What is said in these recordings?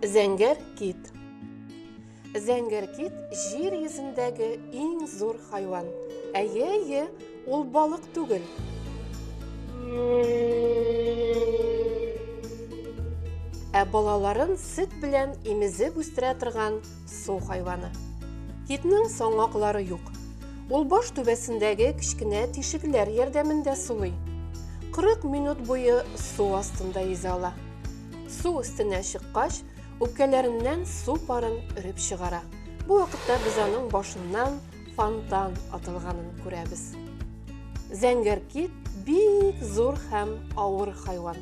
Зәңгәр кит Зәңгәр кит җир йөзендәге иң зур хайван. Әйе, әйе, ул балык түгел. Ә балаларын сөт белән имезеп үстерә торган Су хайваны. Китнең соңаклары юк. Ул баш түбәсендәге кечкенә тишекләр ярдәмендә сулый. 40 минут буе су астында йөзә ала. Су өстенә чыккач, үпкәләреннән су парын өреп чыгара. Бу вакытта без аның башыннан фонтан атылганын күрәбез. Зәңгәр кит бик зур һәм авыр хайван.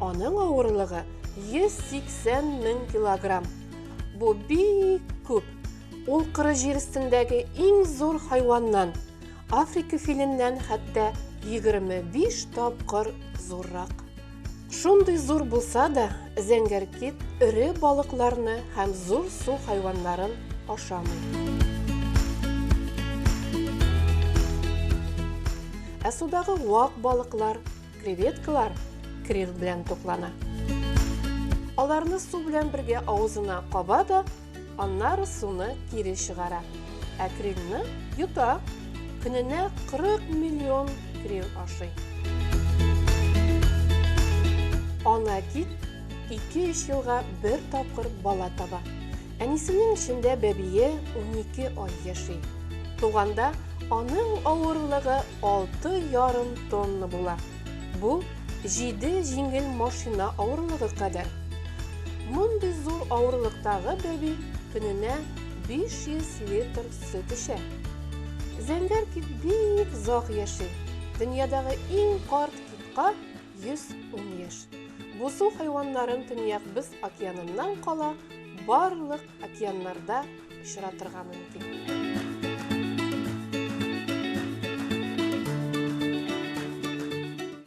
Аның авырлыгы 180 мең килограмм. Бу бик күп. Ул кыры җир өстендәге иң зур хайваннан, Африка филеннән хәтта 25 тапкыр зуррак. Шундый зур булса да, зәңгәр кит эре балыкларны һәм зур су хайваннарын ашамый. Ә судагы вак балыклар, Креветкалар крил белән туклана. Аларны су белән бергә авызына каба да, аннары суны кире чыгара. Ә крилны йота. Көненә 40 миллион крил ашый. Ана кит 2-3 елга бер тапкыр бала таба. Әнисенең эчендә бәбие унике ай яши. Туганда аның авырлыгы алты ярым тонна була. Бу, җиде җиңел машина авырлыгы кадәр. Мондый зур авырлыктагы бәби көненә 500 литр сөт эчә. Зәңгәр кит бик зак яши. Дөньядагы иң карт китка 110 яшь. Бу су хайваннарын Төньяк Боз океаныннан кала барлык океаннарда очратырга мөмкин.